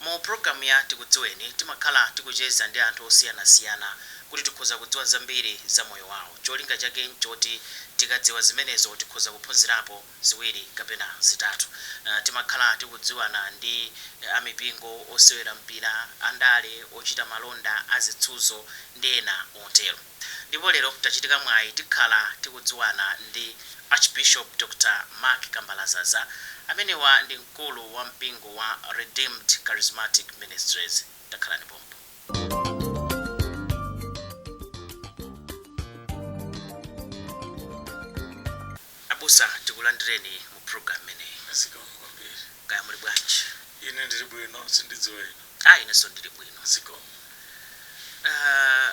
Mu pulogalamu ya Tikudziweni timakhala tikucheza ndi anthu osiyanasiyana kuti tikhoza kudziwa zambiri za moyo wawo. Cholinga chake n'choti tikadziwa zimenezo tikhoza kuphunzirapo ziwiri kapena zitatu. Timakhala tikudziwana ndi a mipingo, osewera mpira, andale, ochita malonda, azisudzo ndi ena otero. Ndipo lero tachitika mwayi tikhala tikudziwana ndi Archbishop Dr. Mark Kambalazaza amenewa ndi mkulu wa mpingo wa Redeemed Charismatic Ministries. Takhalani pompo. Abusa tikulandireni mu program imeneyi. Zikomo kwambiri. Kaya muli bwanji? Ine ndili bwino, sindidziwa inu. Ah, inenso ndili bwino. Zikomo. Ah,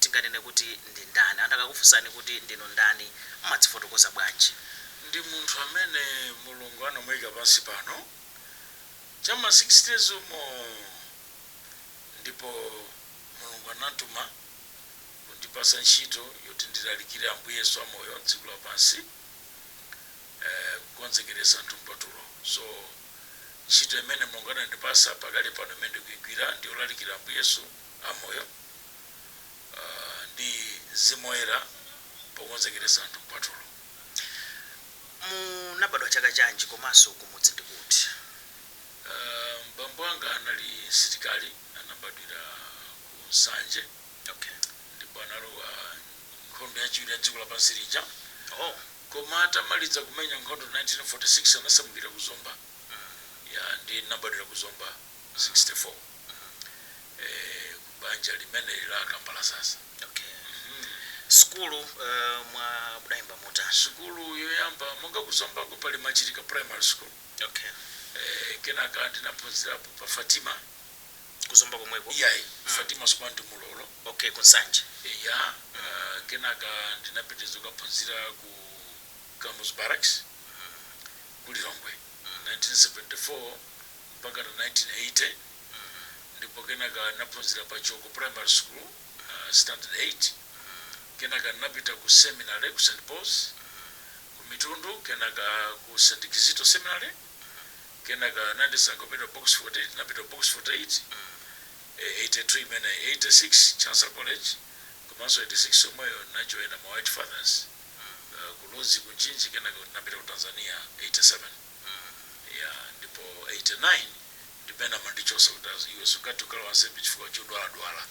Tinganene kuti ndi ndani? Anthu akakufunsani kuti ndinu ndani, mumadzifotokoza bwanji? Ndi munthu amene Mulungu anamuika pansi pano cha mma sixties umo ndipo Mulungu anamtuma kundipasa ntchito yoti ndilalikire Ambuye Yesu amoyo dziko lapansi eeh kukonzekeresa anthu mkwatulo so ntchito imene Mulungu anandipasa pakali pano imene ndikuigwira ndiyolalikira Ambuye Yesu amoyo. ndi Mzimu Woyera pokonzekeretsa anthu mkwatulo. Munabadwa chaka chanji komanso kumudzi ndi kuti? Bambo anga anali msilikali, anabadwira ku Nsanje ndipo analowa nkhondo yachiwiri ya dziko lapansi lija koma atamaliza kumenya nkhondo 1946 anasamukira ku Zomba, ya ndiye ndinabadwira ku Zomba 64. mm, eh, ku banja limeneli la Kambalazaza okay mm. sukulu uh, mwa mudayamba motani sukulu yoyamba monga ku Zombako pali machirika primary school okay eh, kenaka ndinaphunzirapo pa fatima ku Zomba komweko iyayi mm. fatima sukulu ndi Mlolo okay ku Nsanje ya mm. uh, kenaka ndinapitiriza kukaphunzira ku Kamuzu Barracks mm. ku lilongwe mm. 1974 mpaka na 1980 ndipo kenaka n'naphunzila pa Chiwoko Primary School, Standard 8. Kenaka n'napita ku seminale ku St. Paul's ku Mitundu kenaka ku St. Kizito Seminary. Kenaka anandisankha kupita ku Box 48, n'napita ku Box 48, 83 imeneyo, 86 Chancellor College komanso 86 yomweyo n'najoina ma White Fathers ku Ludzi ku Mchinji kenaka n'napita ku Tanzania 87. Hmm yeah ndipo 89 ndipamene amandichosa kuti iwe sungathe kukhala wansembe chifukwa chodwala dwala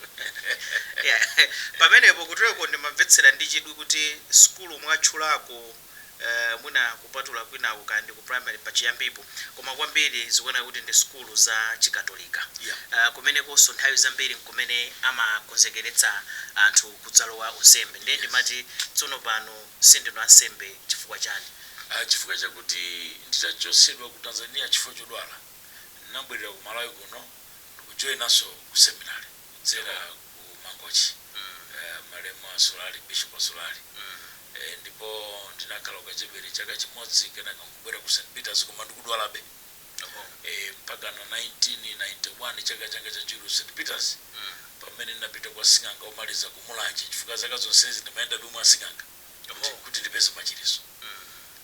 yeah pamenepo kutuloko ndimamvetsera ndi chidwi kuti sukulu mwatchulako eeh mwina kupatula kwinaku kaya ndi ku primary pachiyambipo koma kwambiri zikuoneka kuti ndi sukulu za chikatolika yeah eeh kumenekonso nthawi zambiri nkumene amakonzekeretsa anthu kudzalowa unsembe ndiye yes ndimati tsono pano sindinu ansembe chifukwa chani? Chifukwa chakuti nditachotsedwa ku Tanzania chifukwa chodwala, ndinabwerera ku Malawi kuno ndikujoinanso ku seminary kudzera ku Mangochi malemu Assolari, Bishop Assolari ndipo ndinakhala ku Kachebere chaka chimodzi kenaka nkubwera ku St Peters koma ndikudwalabe. mpakana 1991 chaka changa chachiwiri ku st peters pamene ndinapita kwa sing'anga omaliza ku mulanje chifukwa zaka zonsezi ndimayendabe mwa asing'anga kuti, kuti ndipeze machiritso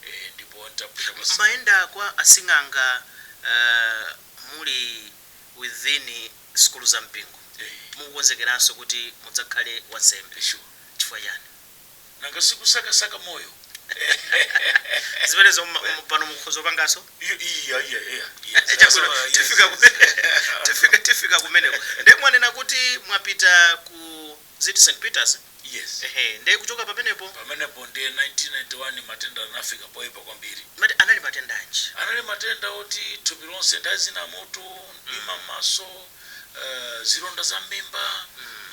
eh, ndipo nditapita kwa mumayenda kwa asing'anga uh, muli within sukulu za mpingo eh, mukukonzekeranso kuti mudzakhale wansembe eh, sure chifukwa chani Nanga si kusakasaka moyo? Zimenezo mma- mma- pano mukhoza kupanganso Iyo- Iya, iya, iya, iya. Eh, chabwino. Sasa, yes, Tifika ku- yes. tifika- tifika kumeneko ndiye mwanena kuti mwapita ku ziti st peters Yes. ehe ndiye kuchoka pamenepo pamenepo nde 1991 matenda anafika poyipa kwambiri mati anali matenda anji anali matenda oti thupi lonse ndazina moto mdima m'maso eh, zilonda za mmimba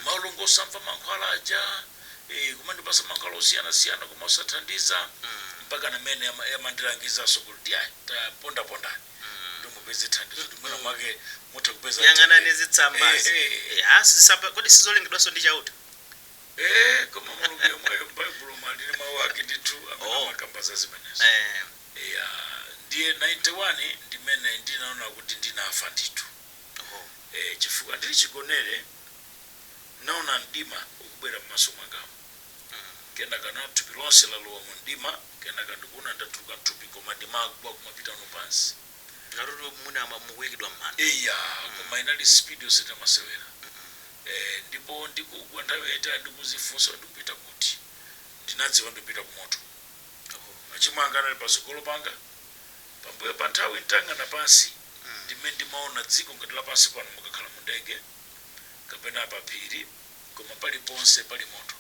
malungo osamva mankhwala aja ee kumandipasa mankhwala osiyana siyana koma osathandiza mpakana m'mene ama- amandilangizaso kuti iya tapondapondani kuti mupeze thandizo kuti mwina mwake mutha kupeza yang'anani mtendere." zitsambazi Eh, eh, eh. ya zitsamba kodi sizolengedwanso ndi chauta ee koma mulungu yemweyo m'baibulo muli mawu ake ndithu amene Oh. amakamba za zimenezo Eh, ya ndiye 91 ndi m'mene ndinaona kuti ndinafa ndithu oh. eh, chifukwa ndili chigonere N'naona mdima ukubwera m'maso mwangamu. Kenaka n'naona thupi lonse lalowa mu mdima, kenaka ndikuona ndatuluka m'thupi koma ndimagwa kumapitano pansi. Ngati kuti mwina mukuikidwa m'manda. Eya, koma inali speed yosachita masewera. Eh, ndipo ndikugwa nthawi yaitali ndikuzifunsa kuti ndikupita kuti. Ndinadziwa kuti ndikupita ku moto. Machimo anga anali patsogolo panga. Pambuyo pa nthawi n'tayang'ana pansi, ndi m'mene ndimaona dziko ngati la pansi pano mukakhala mu ndege. kapena pa phiri, koma paliponse pali moto,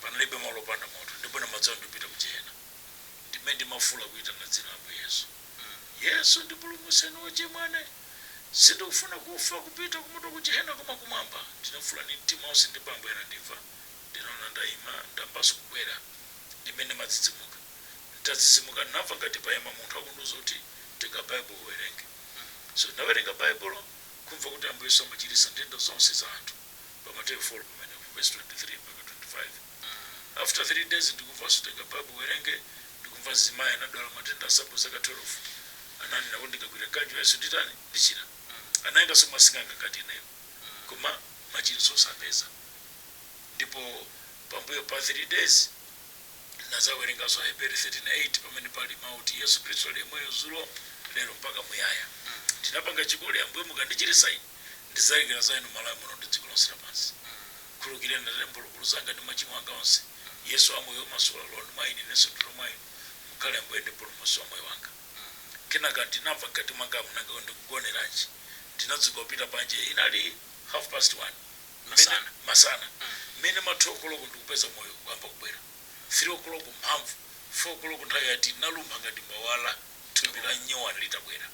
panalibe malo opanda moto, ndipo ndimadziwa ndipita ku jehena. Ndimene ndimafuula kuitana dzina la Ambuye Yesu. Yesu ndipulumutseni ochimwa ine. Sindikufuna kufa kupita kumoto ku jehena koma kumwamba. Ndinafuula ndi mtima onse ndipo Ambuye anandimva. Ndinaona ndaima, ndayambanso kukwera. Ndimene ndimadzidzimuka. Nditadzidzimuka ndinamva ngati paima munthu akundiuza kuti tenga Baibulo uwerenge. So ndinawerenga Baibulo. Kumva kuti Ambuye Yesu amachiritsa nthenda zonse za anthu pa Mateyu 4 pamenepo, vesi 23 mpaka 25. After 3 days ndikumvanso tenga Bible uwerenge, ndikumva mzimayi anadwala matenda a msambo zaka 12. Ananena kuti ndikagwira mkanjo wa Yesu nditani? Ndichira. Anayendanso mwa sing'anga ngati ineyo. Koma machiritso osapeza. Ndipo pambuyo pa 3 days. Nadzawerenganso Aheberi 13 8 pamene pali mawu oti Yesu Khristu ali yemweyo zulo, lero mpaka muyaya. Ndinapanga chikole Ambuye mukandichiritsa ine, ndidzalalikira za inu Malawi muno ndi dziko lonse lapansi. Khululukireni Atate mphulupulu zanga ndi machimo anga onse. Yesu amoyo omasula lowani mwa ine inenso ndilowa mwa inu. Mukhale Ambuye ndi Mpulumutsi wa moyo wanga. Kenaka ndinamva mkati mwangamu nanga ndikugoneranji? Ndinadzuka kupita panja inali half past one. masana, mmene ma 2 koloko ndikupeza moyo kuyamba kubwera, 3 koloko mphamvu, 4 koloko nthawi ya tea, ndinalumpha ngati mbawala thupi la nyowani litabwera,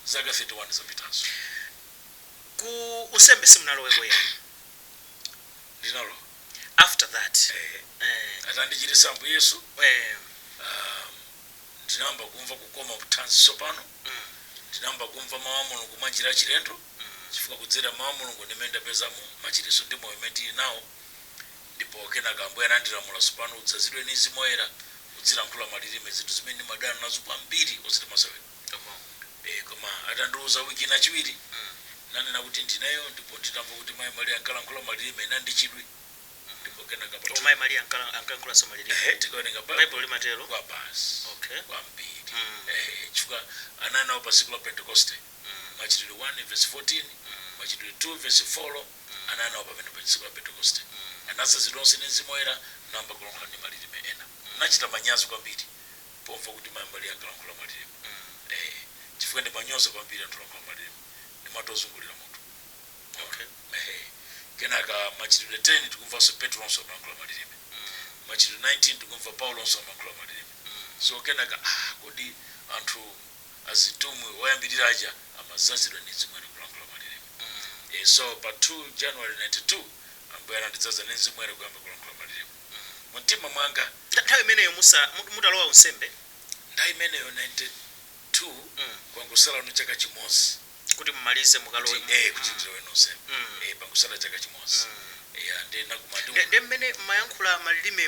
zaka 31 zapitazo. Ku unsembe simunaloweko eya? Ndinalowa. After that? Eeh. Atandichiritsa Ambuye Yesu, ahm, ndinayamba kumva kukoma mu thanzi tsopano, ndinayamba kumva Mawu a Mulungu mwa njira yachilendo. mm chifukwa kudzera mmawu a Mulungu ndimene ndapezamo machiritso ndi moyo umene tili nawo ndipo kenaka Ambuye anandilamula tsopano udzazidwe ndi Mzimu Woyera udzilankhula malilime zinthu zimene ndimadana nazo kwambiri osati masewera eh koma atandiuza week ino kachiwiri ndinanena kuti ndineyo ndipo nditamva kuti Mayi Maria ankalankhula malilime ndinali ndi chidwi ndipo kenaka pa oh Mayi Maria ankala- ankalankhulanso malilime ehe tikawerenga Baibulo Baibulo limatero kwa basi okay kwambiri mm ehe chifukwa anali nawo pa tsiku la Pentekoste Machitidwe 1 vesi 14, Machitidwe 2 vesi 4 Anali nawo pamene pa tsiku la Pentekoste. Anadzazidwa onse ndi Mzimu Woyera, nayamba kulankhula ndi malirime ena. Ndinachita manyazi kwambiri pomva kuti mayi Maria ankalankhula malirime. Eee, chifukwa ndimanyoza kwambiri anthu olankhula malirime. Ndimati ozungulira mutu. Mwaona? Ehe. Kenaka Machitidwe 10 tikumvanso Petronso amalankhula malirime. Machitidwe 19 tikumva Paulonso amalankhula malirime. So kenaka, aah, kodi anthu. azitumwi oyambirira aja amadzazidwa ndi Mzimu Woyera kulankhula malirime. E, so, pa 2 January 92, Ambuye anandidzaza ndi Mzimu Woyera kuyamba kulankhula malirime mu mtima mwanga. Nthawi imeneyo musa, mutalowa unsembe? Nthawi imeneyo, 92, kwangotsala chaka chimodzi. Kuti mumalize mukalowe mu. Kuti, e, kuti ndilowe unsembe. E, pangotsala chaka chimodzi. Eya, ndiye ndinakumana ndi. Nde, nde mmene mmayankhula malirime.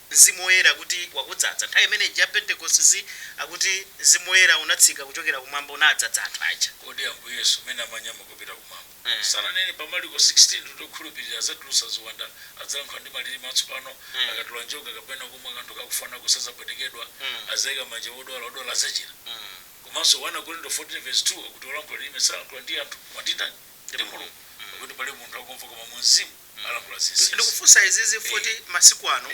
Mzimu Woyera kuti wakudzaza. Nthawi imene ija ya Pentekoste, akuti, Mzimu Woyera unatsika kuchokera Kumwamba, unadzaza anthu aja. Kodi Ambuye Yesu, mmene amanyamuka kupita Kumwamba, sananene pa Marko 16 kuti okhulupirira adzatulutsa ziwanda, adzalankhula ndi malirime atsopano, akatola njoka kapena kumwa kanthu kakufa nako sadzapwetekedwa, adzaika manja pa odwala, odwala adzachira? Komanso 1 Akorinto 14 vesi 2 akuti olankhula lirime salankhula ndi anthu, koma ndi ndani? Ndi Mulungu. Pakuti palibe munthu akumva koma mu Mzimu. alankhula zinsinsi. Ndikufunsa izizi poti masiku ano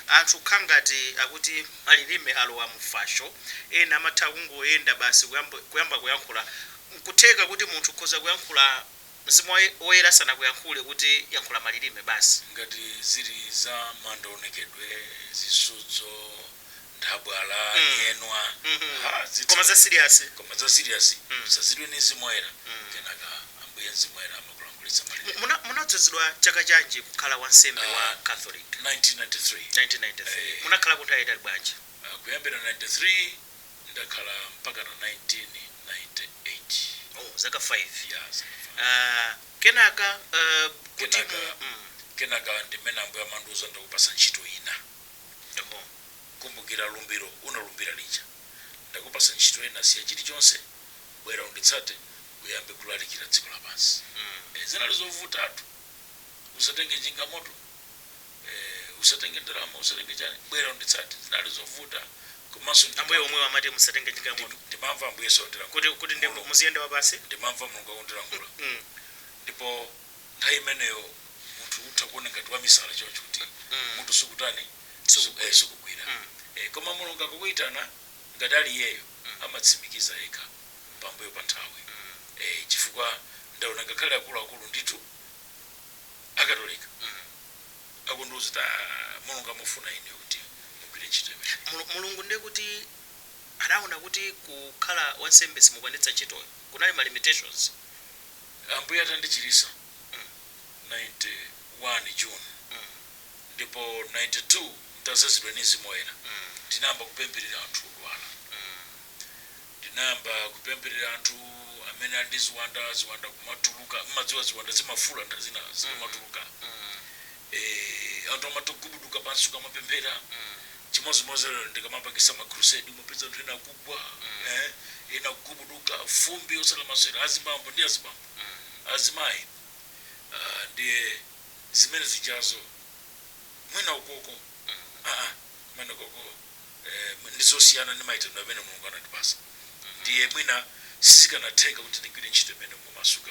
anthu kukhangati akuti malilime alowa mu fasho, ena amatha kungoyenda basi kuyamba kuyankhula, nkutheka kuti munthu ukhoza kuyankhula Mzimu Woyera asanakuyankhule kuti yankhula malilime basi. Ngati zili za maonekedwe, zisudzo, nthabwala mm. nyenwa mm -hmm. ha, zitsa, koma za serious koma za serious mm. udzazidwe ndi Mzimu Woyera mm. kenaka ambuye Mzimu Woyera amakulankhulitsa malirime munadzozedwa chaka chanji kukhala wansembe uh, wa ah, catholic 1993 1993 hey. munakhala nthawi yaitali bwanji uh, kuyambira 93 ndakhala mpakana 1998 zaka 5 yes. uh, ah, kenaka uh, kuti kenaka, mm. kenaka ndimene ambuye amandiuza ndakupatsa ntchito ina Ndimo, kumbukira lumbiro unalumbira lija. Ndakupatsa ntchito ina, siya chilichonse, bwera unditsate, uyambe kulalikira dziko lapansi. Eh, zinali zovutatu. Usatenge njinga moto, eh, usatenge ndalama, usatenge chani, bwera unditsate. Zinali zovuta, komanso Ambuye ndimamva, omwewo, amati musatenge njinga moto, ndimamva Ambuye Yesu akundilankhula, kuti, kuti nde mu- Mulungu, muziyenda wapansi. ndimamva Mulungu akundilankhula. Mm. Ndipo. nthawi imeneyo munthu utha kuona ngati wamisala choncho kuti mutu sukutani sukugwira koma Mulungu akakuitana ngati ali iyeyo amatsimikiza yekha pambuyo pa nthawi chifukwa ndaona ngakhale akuluakulu ndithu akatolika akundiuza kuti aah Mulungu amafuna inuyo kuti mugwire ntchito imeneyi. Mulungu ndiye kuti anaona kuti kukhala wansembe simukwanitsa ntchitoyo, kunali ma limitations? Ambuye atandichiritsa mm 91 June mm ndipo 92 ntadzazidwa ndi Mzimu Woyera mm ndinayamba kupempherera anthu odwala mm ndinayamba kupempherera anthu amene ali ndi ziwanda, ziwanda kumatuluka, mmadziwa ziwanda zimafuula nthawi zina zikamatuluka mm Eeeh anthu amatha kugubuduka pansi ukamapemphera chimodzimodzi lero ndikamapangisa ma crusade umapeza anthu ena akugwa eeh ena kugubuduka fumbi osati lamasewera azibambo ndi azimayi aah ndiye zimene zijazo mwina ukoko aa kumenekoko eeh ndizosiyana ndi mayitanidwe amene mulungu anatipasa ndiye mwina sizikanatheka kuti ndigwire ntchito imeneyo momasuka.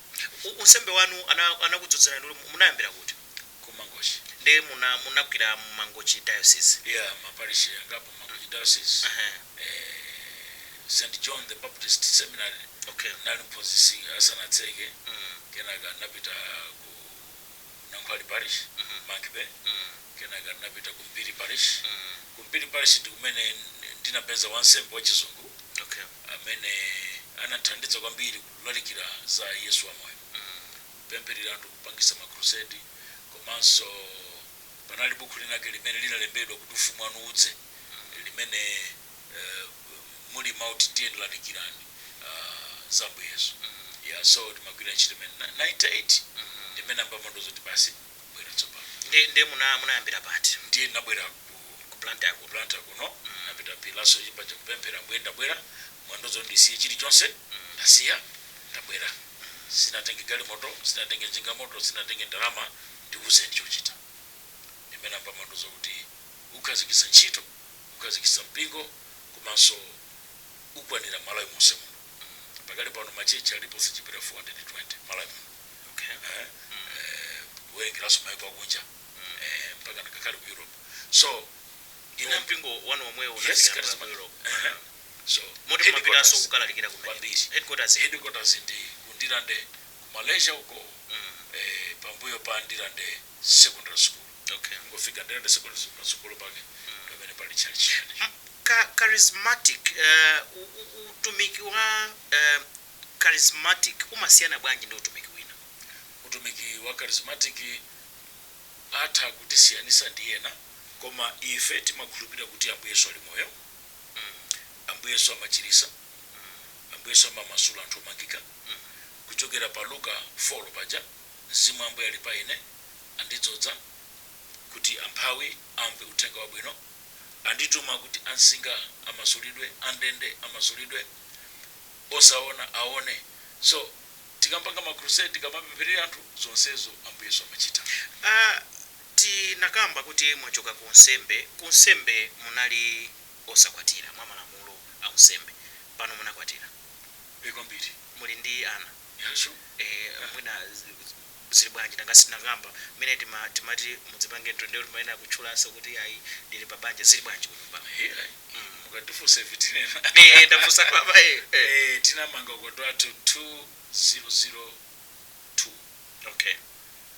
U, unsembe wanu ana, anakudzodzerani kuti mu- munayambira kuti? ku mangochi Ndiye muna, munagwira mu Mangochi Diocese. eya maparishi angapo mangochi diocese Aha, eh, st john the baptist seminary okay. ndinali mphunzitsi asanatseke Mm, kenaka napita ku nankhwali parish mhm, mankbe mm, kenaka napita ku mpiri parish mm, ku mpiri parish ndi kumene ndinapeza wansembe wachizungu okay. amene anathandiza kwambiri kulalikira za Yesu wamoyo, kupempherera anthu, kupangisa ma crusade, komanso panali bukhu linake limene linalembedwa kuti Ufumu Wanu Udze limene uh, muli mau kuti ndiye lalikirani uh, za Ambuye Yesu yeah, so timagwira ntchito imene Na- 98 ndimene Ambuye amandiuza zoti basi kubwera tsopano nde nde muna munayambira pati ndiye ndinabwera ku ku blantyre kuno Blantyre kuno napita pilaso chipacha kupemphera ambuye ndabwera Mwandiuza kuti ndisiye chilichonse, ndasiya, ndabwera. Sindinatenge galimoto, sindinatenge njinga moto, sindinatenge ndalama, ndiuzeni chochita. Ndimene ambuye amandiuza kuti ukhazikitsa ntchito, ukhazikitsa mpingo komanso ukwanira Malawi monse muno. Pakali pano ma church alipo osachepera 420 Malawi muno. Eeh, kuwerengeranso maiko akunja. Eeh, mpakana ngakhale ku Europe. So, ine. Koma mpingo wanu womwewu Yes, unafika ku Charismatic. Europe. Eeh. Moti ndimapitanso kukalalikira kumeneko? Headquarters ili kuti? Headquarters ndi ku Ndirande ku Malaysia uko eeh pambuyo pa Ndirande Secondary School. Kungofika Ndirande Secondary School patsogolo pake ndipamene pali tchalitchi chimenecho. Ka Charismatic eeh utumiki wa eeh Charismatic umasiyana bwanji ndi utumiki wina? Utumiki wa Charismatic atha kutisiyanitsa ndi ena koma ife timakhulupirira kuti Ambuye Yesu ali moyo. mm ambuye yesu amachilisa mm ambuye yesu amamasula anthu omangika mm kuchokera pa luka folo paja mzimu wa ambuye ali pa ine andidzodza kuti amphawi amve uthenga wabwino andituma kuti amsinga amasulidwe andende amasulidwe osaona aone so tikampanga ma crusade tikamapempherera anthu zonsezo ambuye yesu amachita a Tinakamba kuti mwachoka ku unsembe, ku unsembe munali osakwatira, mwa malamulo a unsembe. Pano munakwatira. E, kwambiri. Muli ndi ana. Ya, sure. E, mwina zili bwanji? Nanga sitinakamba mmene tima, timati mudzipange nthu, ndiye kuti mumayenera kutchulanso kuti iyayi ndili pa banja. Zili bwanji kunyumba? He, ayi. Mm. Mukatifunsa ife tinena. E, ndafunsa papa, e. E, tinamanga ukwati wathu 2002. Okay.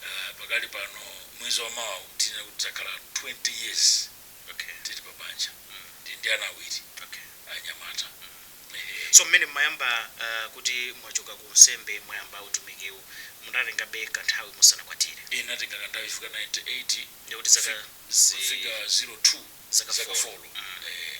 Uh, pakali pano mwezi wa mawa tinena kuti takhala 20 years okay. tili pa banja mm. ndi ndi ana awiri okay. anyamata mm. Ehe. so mmene mmayamba uh, kuti mwachoka ku unsembe mwayamba utumikiwu munatengabe kanthawi musanakwatire Eh, natenga kanthawi ifika 98 ndikuti zaka zi- kufika 02 Zaka zaka four. 4 Mm. eh,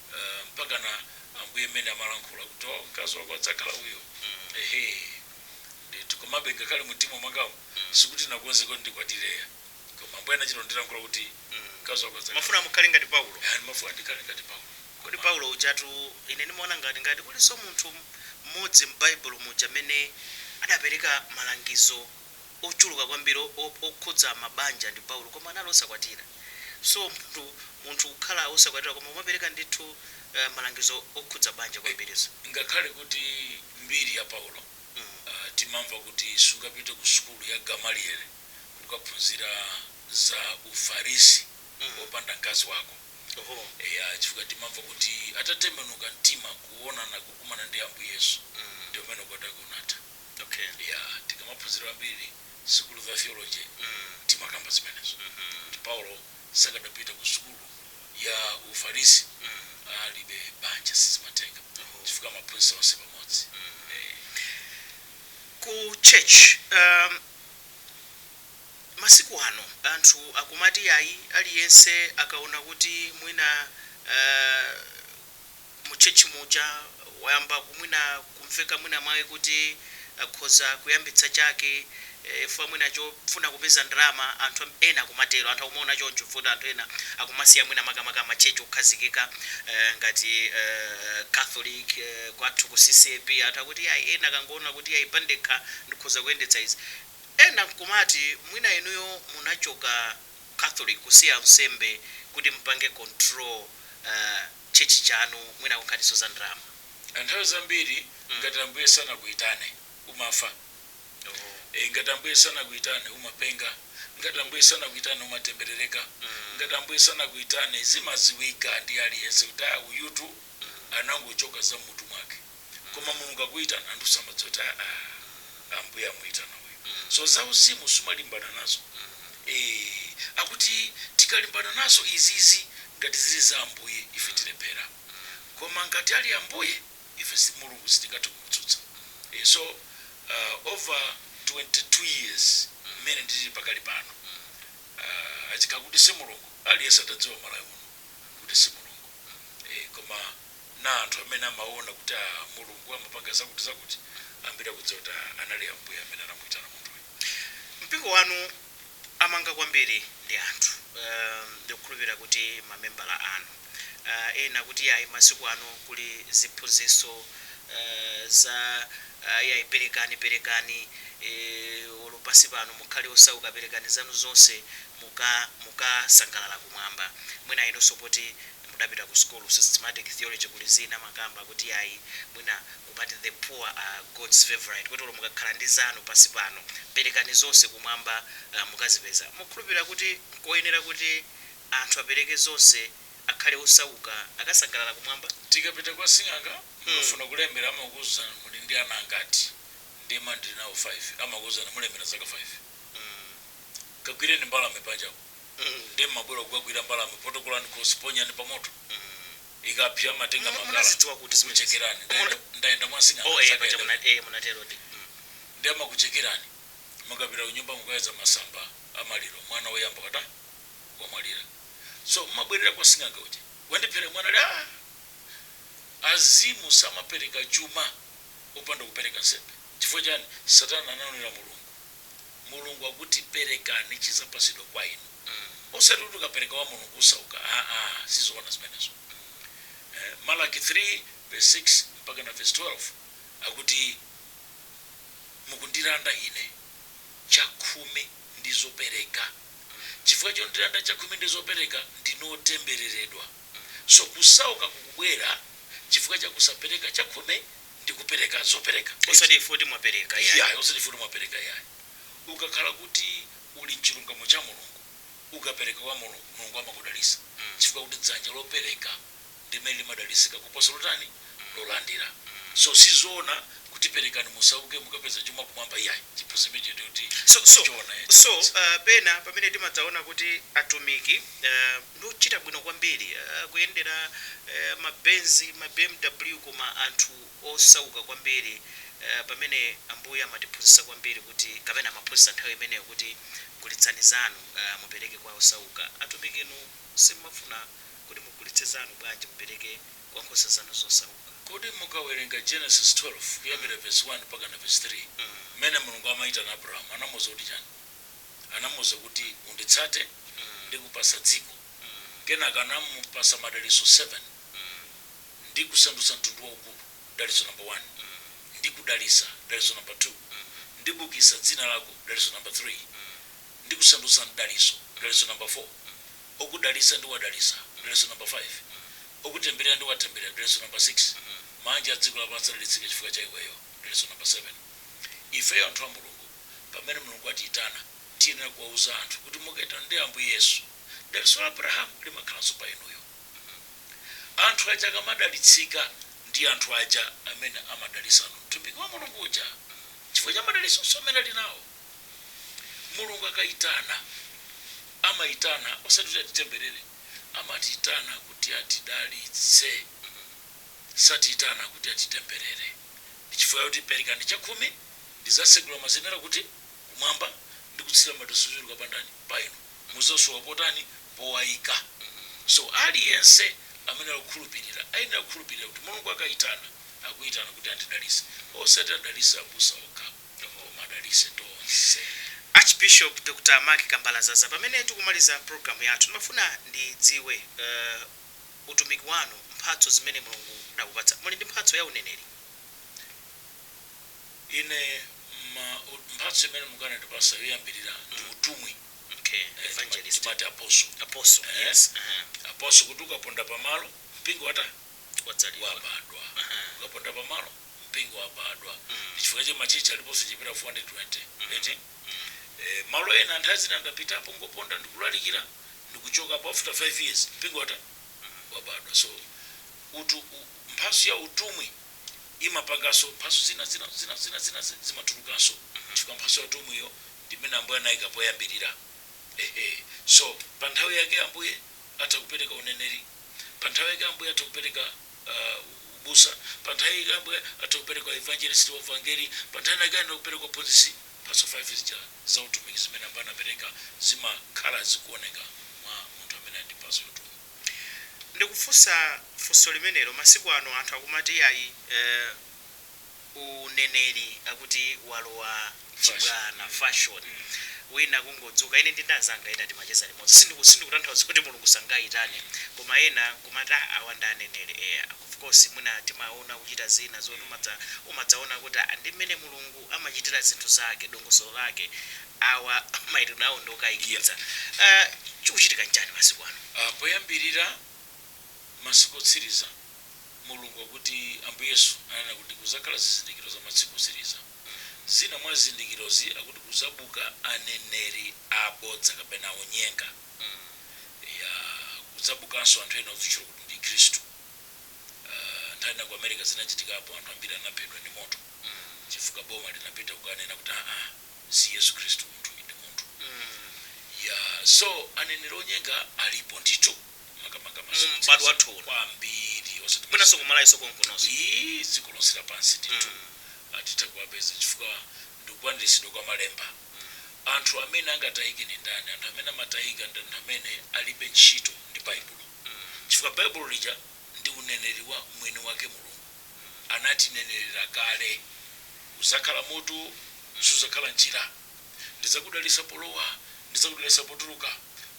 uh, mpakana ambuye mmene amalankhula kuti oh, mkazi wako adzakhala uyo ehe ndithu komabe ngakhale mumtima mwangamo sikuti nakonze kuti ndikwatireya koma ambuye anachita kundilankhula kuti mkazi wako adzakhala mafuna mukhale ngati paulo eti mafuna ndikhale ngati paulo kodi paulo ujatu ine ndimaona ngati ngati kulinso munthu mmodzi m'baibulo muja amene adapereka malangizo ochuluka kwambiri o, o, okhudza mabanja ndi Paulo, koma anali osakwatira. So, munthu, munthu kukhala osakwatira koma kumapereka ndithu, uh, malangizo okhudza banja E, kwambiri. So. ngakhale kuti mbiri ya Paulo, Mm. uh, timamva kuti sungapite ku sukulu ya Gamaliele kukaphunzira za uFarisi Mm. wopanda mkazi wako. Oho. Eya, chifukwa timamva kuti atatembenuka mtima kuonana, kukumana ndi Ambuye Yesu, Mm. ndi pomwe ukwati wake unatha. okay yeah tikamaphunzira ambiri sukulu za theology timakamba zimenezo kuti paulo sakadapita ku sukulu ya ufarisi alibe banja sizimatheka chifukwa amaphunzitsa onse pamodzi Eh, ku church um, masiku ano anthu akumati ayi aliyense akaona kuti mwina uh, mu church muja wayamba kumwina kumveka mwina mwake kuti akhoza kuyambitsa chake chifukwa mwina chofuna kupeza ndalama anthu ena akumatero anthu akumaona choncho chifukwa kuti anthu ena akumasiya mwina makamaka ma church okhazikika ngati catholic kwathu ku ccap anthu akuti iyayi ena akangoona kuti iyayi pandekha ndikhoza kuyendetsa izi ena nkumati mwina inuyo munachoka catholic kusiya unsembe kuti mupange control church chanu mwina kunkhaniso za ndalama. Nthawi zambiri Mm. ngati ambuye sanakuyitane umafa Oh. e, ngati ambuye sanakuyitane umapenga ngati ambuye sanakuyitane umatemberereka Mm. ngati ambuye sanakuyitane zimaziwika ndi aliyense kuti ah uyutu Mm. anangochoka za mmutu mwake koma mulungu akuitana anthu samadziwa kuti aa ambuye amuitana uyu so zauzimu sumalimbana nazo ee akuti tikalimbana nazo izizi ngati zili za ambuye ife tilephera koma ngati ali ambuye ife si- mulungu sitingathe kumutsutsa ee so uh, over 22 years mmene ndili pakali pano uh, achikhala kuti si mulungu aliyense atadziwa malawi muno kuti si mulungu eh, koma na anthu amene amaona kuti a, Mulungu amapanga zakuti-zakuti, ambiri akudziwa kuti a, anali Ambuye amene anamuitana munthuyo. Mpingo wanu amaunga kwambiri ndi anthu. Ndikukhulupirira kuti mamembala anu. Ena kuti yayi masiku ano kuli ziphunzitso za yayi perekani perekani olo pansi pano mukhale osauka perekani zanu zonse muka mukasangalala kumwamba. Mwina inunso poti mudapita ku sukulu systematic theology kuli zina amakamba kuti ayi mwina kumati the poor are God's favourite kuti olo mukakhala ndi zanu pansi pano perekani zonse kumwamba mukazipeza mukukhulupirira kuti nkoyenera kuti anthu apereke zonse akhale osauka akasangalala kumwamba? Tikapita kwa sing'anga mukafuna kulemera amakuuzani muli ndi ana angati ndiye mmati ndili nawo 5 amakuuzani mulemera zaka 5 kagwireni mbalame panjapo. nde mmabwera kukagwira mbalame potokolani khosi ponyani pa moto ikapsa matenga Mu- munazidziwa kuti makala zimenezo? kuchekerani Muna- ndayenda ndayenda oh mwasing'anga eh paja sakayenda muna eh munatero ndi mm. nde amakuchekerani mukapita kunyumba mukapeza masamba amaliro mwana woyamba wata wamwalira so mmabwerera kwa sing'anga uja wandiphera mwana ali "Ah, azimu samapereka chuma usanda kupereka nsembe chifukwa chani satana anaonera mulungu mulungu akuti perekani chizapasidwa kwa inu osati kuti ukapereka kwa mulungu usauka aa sizoona zimenezo eh, malaki 3 verse 6 mpaka na verse 12 akuti mukundilanda ine chakhumi ndi zopereka chifukwa chondilanda chakhumi ndi zopereka ndinu otembereredwa so kusauka kukubwera chifukwa cha kusapereka chakhumi ndi kupereka zopereka eti? Osati chifukwa kuti mwapereka iyayi. Iyayi, osati chifukwa kuti mwapereka iyayi. Ukakhala kuti uli m'chilungamo cha Mulungu, ukapereka kwa Mulungu, Mulungu amakudalisa chifukwa kuti dzanja lopereka ndi limene limadalisika kuposa lotani? lolandira. So sizoona kuti perekani musauke mukapeza chuma kumwamba iyayi. Chiphunzitso chimenechi ndiye kuti So, so, sichoona eti. so, uh, pena pamene timadzaona kuti atumiki, uh. Ndiochita bwino kwambiri akuyendera ma benz ma bmw koma anthu osauka kwambiri pamene ambuye amatiphunzitsa kwambiri kuti kapena amaphunzitsa nthawi imeneyo kuti gulitsani zanu mupereke kwa osauka atumiki inu simumafuna kuti mugulitse zanu bwanji mupereke kwa nkhosa zanu zosauka. Kodi mukawerenga Genesis 12 kuyambira verse 1 mpakana verse 3 mmene Mulungu amaitana Abrahamu anamuuza kuti chani? anamuuza kuti, Unditsate, ndikupatsa dziko. Kenaka anamupatsa madalitso 7 ndikusandutsa mtundu waukulu, dalitso namba 1, ndikudalitsa, dalitso namba 2, ndibukitsa dzina lako, dalitso namba 3, ndikusandutsa mdalitso, dalitso namba 4. Okudalitsa ndiwadalitsa, dalitso namba 5, okutemberera ndiwatemberera, dalitso namba 6. Maanja a dziko lapansi adalitsike chifukwa cha iweyo, dalitso namba 7. Ifeyo anthu a Mulungu. Pamene Mulungu atiitana, tiyenera kuwauza anthu kuti mukaitanidwa ndi Ambuye Yesu, dalitso la Abrahamu limakhalanso pa inuyo. Hmm. Anthu aja akamadalitsika ndi anthu aja amene amadalitsano mtumiki wa Mulungu uja hmm. chifukwa cha madalitsonso amene ali nawo. Mulungu akaitana, amaitana osati kuti atitemberere, amatiitana kuti atidalitse hmm. satiitana kuti atitemberere. Ndi chifukwa chakuti perekani chakhumi Ndizatsegula mazenera kuti kumwamba ndi kutsira madalitso ochuluka pa ndani? Pa inu. Mudzasowa potani? Powaika. So aliyense amene akukhulupirira ayenera kukhulupirira kuti Mulungu akaitana, akuitana kuti andidalitse. Osati adalitse abusa okha, koma adalitse tonse. Archbishop Dr Mark Kambalazaza pamene tikumaliza program yathu ndimafuna ndidziwe uh utumiki wanu mphatso zimene Mulungu adakupatsa muli ndi mphatso ya uneneri? Ine ma u- mphatso imene Mulungu anandipasa yoyambirira ndi utumwi. Okay. Eh, tima- Evangelist. Timati apostle. Apostle. Eh. Yes. Aha. Apostle kuti ukaponda pamalo mpingo watani? Wadzalidwa. wabadwa. Aha. Ukaponda pamalo mpingo wabadwa. Mm. Chifukwa chake machechi aliponso kupitirira 420. Eti? Eh, malo ena nthawi zina ndapitapo ngoponda ndikulalikira ndikuchokapo after 5 years mpingo watani wabadwa. So utu u- mphatso ya utumwi imapanganso mphatso zina zina zina zina zina zi- zimatulukanso chifukwa mphatso ya utumwiyo ndi imene ambuye anayika poyambirira ehe so pa nthawi yake ambuye atha kupereka uneneri pa nthawi yake ambuye atha kupereka uh, ubusa pa nthawi yake ambuye atha kupereka evangelist wa vangeli pa nthawi yake atha kupereka uphunzitsi mphatso 5 zija za utumiki zimene ambuye anapereka zimakhala zikuoneka mwa munthu amene ali ndi mphatso ya utumwi Ndikufunsa funso limenelo masiku ano anthu akumati iyayi eeh uneneri akuti walowa chibwana, fashion, wina kungodzuka, ine ndi ndi anzanga ena timacheza limodzi sindiku sindikutanthauza kuti Mulungu sangayitane koma ena nkumati aah awa ndi aneneri eya of course mwina timaona kuchita zina zoti umadza umadzaona kuti aah ndi mmene Mulungu amachitira zinthu zake, dongosolo lake, awa, maitanidwe awo ndi okayikitsa. A. Chikuchitika nchiyani masiku ano? A. Poyambirira, masiku otsiriza, Mulungu akuti, Ambuye Yesu ananena kuti kudzakhala zizindikiro za masiku otsiriza. Zina mwa zizindikirozi akuti kudzabuka aneneri abodza kapena onyenga. Eya, kudzabukanso anthu ena odzitchula kuti ndi Khristu. A. Nthawi ina ku America zinachitikapo, anthu ambiri anaphedwa ndi moto. mm chifukwa boma linapita kukanena kuti aa si yesu khristu munthuyi ndi munthu mm yaa so aneneri onyenga alipo ndithu makamaka m'badwo wathu uno. kwambiri osati mwinanso ku malawi konkunoso ii dziko lonse lapansi ndithu mm. atitha kuwapeza chifukwa ndikukwaniritsidwa kwa malemba anthu amene angatayike ndi ndani anthu amene amatayika ndi anthu amene alibe ntchito ndi baibulo mm. chifukwa baibulo lija ndi uneneri wa mwini wake mulungu anatinenerera kale. Uzakhala mutu, suzakhala mchira. Ndidzakudalitsa polowa, ndidzakudalitsa potuluka,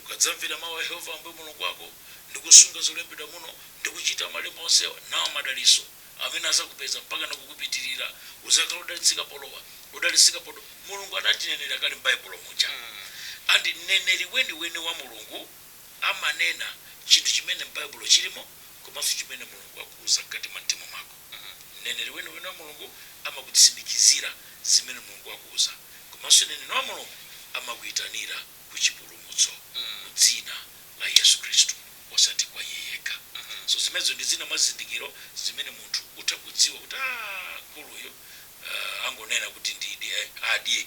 ukadzamvera mau a Yehova Ambuye Mulungu wako, ndi kusunga zolembedwa muno, ndi kuchita malemba onsewa. Nawa madalitso amene adzakupeza mpakana kukupitirira, Uzakhala odalitsika polowa, odalitsika potu Mulungu anatinenerera kale m'Baibulo muja. And mneneri weniweni wa Mulungu. amanena chinthu chimene m'Baibulo chilimo komanso chimene Mulungu akuuza mkati mwa mtima mwako. Mneneri weniweni wa Mulungu amakutsimikizira zimene Mulungu akuuza komanso mneneri wa Mulungu amakuitanira ku chipulumutso mu dzina la Yesu Khristu osati kwa iye yekha. So zimenezo ndi zina mwa zizindikiro zimene munthu utha kudziwa kuti aah mkuluyu aah angonena kuti ndidye adye.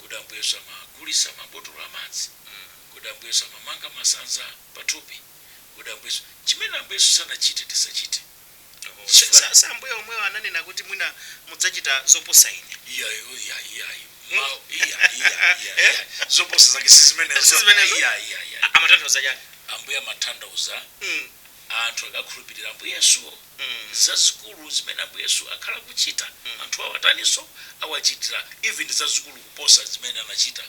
Kodi Ambuye Yesu amagulisa ma botolo amadzi? Kodi Ambuye Yesu amamanga masanza pa thupi? Kodi Ambuye Yesu. Chimene Ambuye Yesu sanachite tisachite. Chifukwa. Si Ambuye omwewo ananena kuti mwina mudzachita zoposa Ine? Iyayi, oh iyayi, iyayi. Mau, iya, iya, iya, iya. Zoposa zake si zimenezo. Si zimenezo? Iya, iya, iya. Amatanthauza chani? Ambuye amatanthauza. anthu akakhulupilira Ambuye Yesu zazikulu zimene Ambuye Yesu akhala akuchita anthuwa awataniso? Awachitira even zazikulu kuposa zimene anachita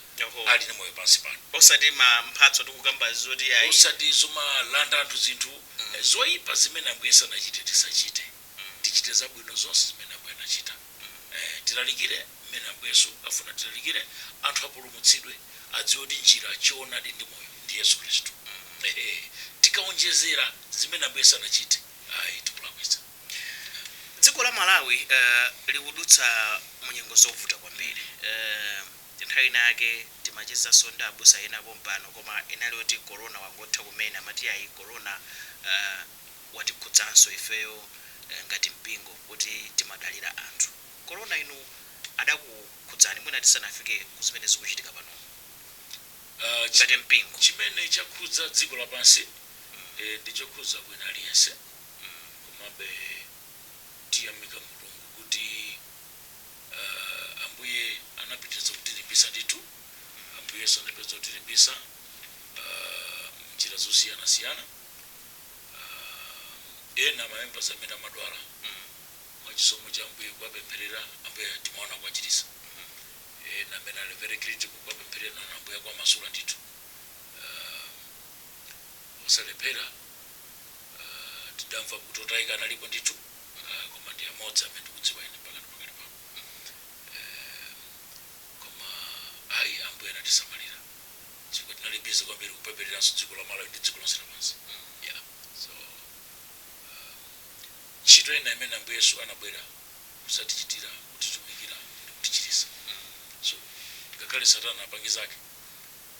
ali ndi moyo pansi pano. Osati ma mphatso tikukambazi zoti ayi. Osati zomalanda anthu zinthu zoipa zimene Ambuye Yesu sanachite tisachite. Tichite zabwino zonse zimene Ambuye anachita. Tilalikire mmene Ambuye Yesu afuna tilalikire, anthu apulumutsidwe, adziwe kuti njira, choonadi ndi moyo ndi Yesu Khristu. Tikaonjezera zimene Ambuye sanachite, ayi tikulakwitsa. Dziko la Malawi likudutsa mu nyengo zovuta kwambiri. Nthawi inayake timachezanso ndi abusa ena pompano koma inali yoti Corona wangotha kumene, amati ayi Corona. watikhudzanso ifeyo ngati mpingo poti timadalira anthu. Corona inu adakukhudzani mwina tisanafike kuzimene zikuchitika panomu ngati mpingo? Chimene chakhudza dziko lapansi ndi chokhudza wina aliyense komabe tiyamika Mulungu kuti Ambuye anapitiriza kutilimbitsa ndithu. Ambuye Yesu anapitiriza kutilimbitsa m'njira zosiyanasiyana. uh, ena mamembers amene amadwala mwachisomo cha ambuye kuwapempherera ambuye timaona kuwachirisa ena amene ali very critical kuwapempherera naona ambuye akuwamasula ndithu uh, osalephera uh, tidamva kuti otayika analipo ndithu uh, koma ndi amodzi amene ndikudziwa ine pakati pa kale pano koma ayi ambuye anatisamalira chifukwa tinali busy kwambiri kupemphereranso dziko la Malawi ndi dziko lonse lapansi yeah so um, ntchito ina imene Ambuye Yesu anabwera kudzatichitira kutitumikira ndi kutichiritsa so ngakhale satana apange zake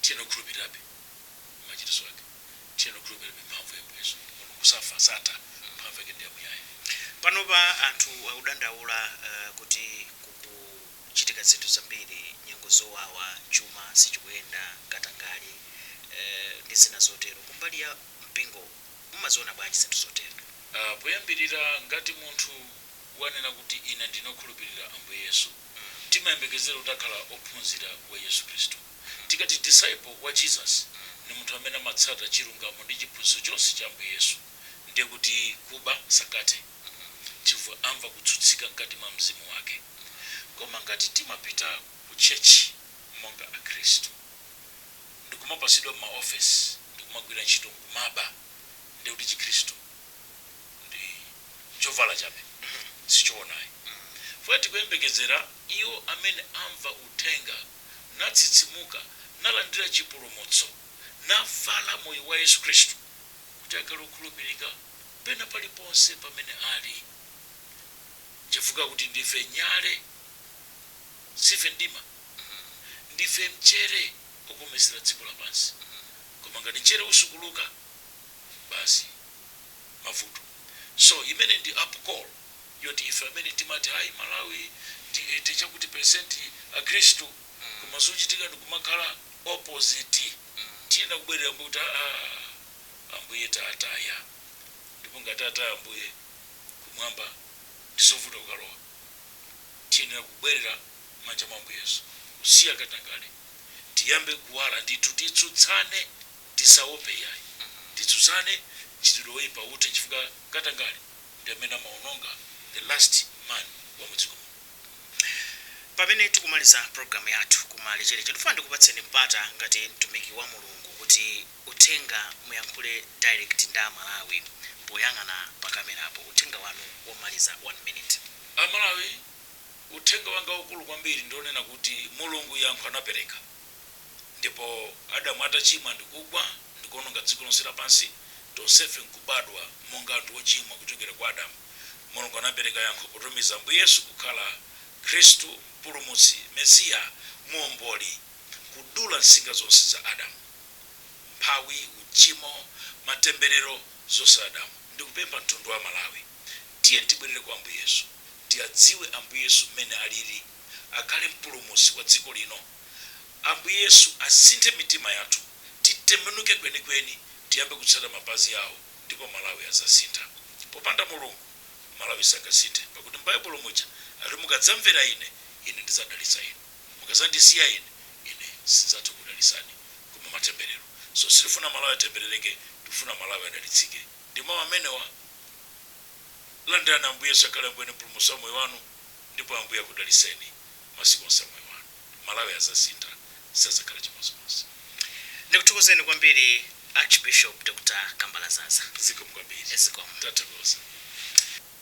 tiyeni tikhulupirirebe machiritso ake tiyeni tikhulupirirebe mphamvu ya Ambuye Yesu mulungu safa satha mphamvu yake ndi yamuyaya Panopa anthu akudandaula uh, kuti kuchitika zinthu zambiri, nyengo zowawa, chuma sichikuyenda, katangale ndi zina zotero. Kumbali ya mpingo mumaziona bwanji zinthu zotero? A. Poyambirira ngati munthu wanena kuti ine ndine okhulupirira Ambuye Yesu, timayembekezera kuti akhala ophunzira wa Yesu Khristu. Tikati disciple wa Jesus ndi munthu amene amatsata chilungamo ndi chiphunzitso chonse cha Ambuye Yesu. Ndiye kuti kuba sangathe. Hmm, chifukwa amva kutsutsika mkati mwa mzimu wake. Koma ngati timapita ku church monga akhristu, ndikumapatsidwa ma office ndikumagwira ntchito nkumaba, ndiye kuti chikhristu ndi chovala chabe, sichoona ayi. Chifukwa tikuyembekezera iwo amene amva uthenga, natsitsimuka, nalandira chipulumutso, navala moyo wa Yesu Khristu kuti akhale okhulupirika. pena paliponse pamene ali. Chifukwa kuti ndife nyale, siife mdima. Ndife mchere okometsera dziko lapansi. Koma ngati mchere usukuluka, basi mavuto. So imene ndi up call yoti ife amene timati ayi Malawi ndi 80 chakuti percent akhristu koma zochitika ndikumakhala opposite. Tiyenera kubwerera mbuyo kuti aah. Ambuye tataya. Ndipo ngati tataya Ambuye, Kumwamba ndi zovuta kukalowa. Tiyenera kubwerera mmanja mwa Ambuye Yesu, kusiya katangale, tiyambe kuwala ndithu, titsutsane, tisaope iyayi. Titsutsane mchitidwe woipa uthe chifukwa katangale ndi amene amaononga the last man wa mu dziko muno. Pamene tikumaliza program yathu kumalizira, ndifuna ndikupatseni mpata ngati mtumiki wa Mulungu kuti. uthenga muyankhule direct kwa a Malawi poyang'ana pa camera apo uthenga wanu womaliza 1 minute. A Malawi uthenga wanga waukulu kwambiri ndi wonena kuti Mulungu yankho anapereka ndipo Adamu atachimwa ndikugwa ndikuononga dziko lonse lapansi tonsefe nkubadwa monga anthu ochimwa kuchokera kwa Adamu Mulungu anapereka yankho potumiza Ambuye Yesu kukhala Khristu mpulumutsi Mesiya muomboli kudula nsinga zonse za Adamu umphawi, uchimo, matemberero, zonse za Adamu. Ndikupempha mtundu wa Malawi tiyeni tibwerere kwa Ambuye Yesu, tiadziwe Ambuye Yesu mmene alili, akhale mpulumutsi wa dziko lino. Ambuye Yesu asinthe mitima yathu titembenuke kwenikweni tiyambe kutsata mapazi awo ndipo Malawi azasintha. Popanda Mulungu Malawi sangasinthe pakuti m'Baibulo muja ati mukadzamvera ine, ine ndidzadalitsa inu. mukazandisiya ine ine sinzatha kukudalisani koma matembelero so sitifuna malawi atembeleleke tikufuna malawi adalitsike ndi mau amenewa landirani ambuye yesu akhale ambuye ndi mpulumutsi wa moyo wanu ndipo ambuye akudaliseni masiku onse a moyo wanu malawi azasintha sazakhala chimozimozi. Ndikuthokozeni kwambiri Archbishop Dr Kambalazaza. Zikomo kwambiri. Zikomo. Tathokoza.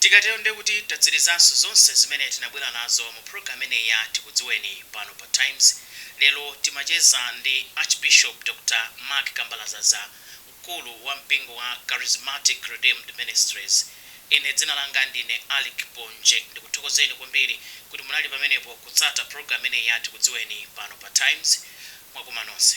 Tikatero ndiye kuti tatsirizanso zonse zimene tinabwera nazo mu program imeneyi ya Tikudziweni pano pa Times. Lero timacheza ndi Archbishop Dr. Mark Kambalazaza, mkulu wa mpingo wa Charismatic Redeemed Ministries. Ine dzina langa ndine Alick Ponje. Ndikuthokozeni kwambiri kuti munali pamenepo kutsata program imeneyi ya Tikudziweni pano pa Times. Mwakoma nonse.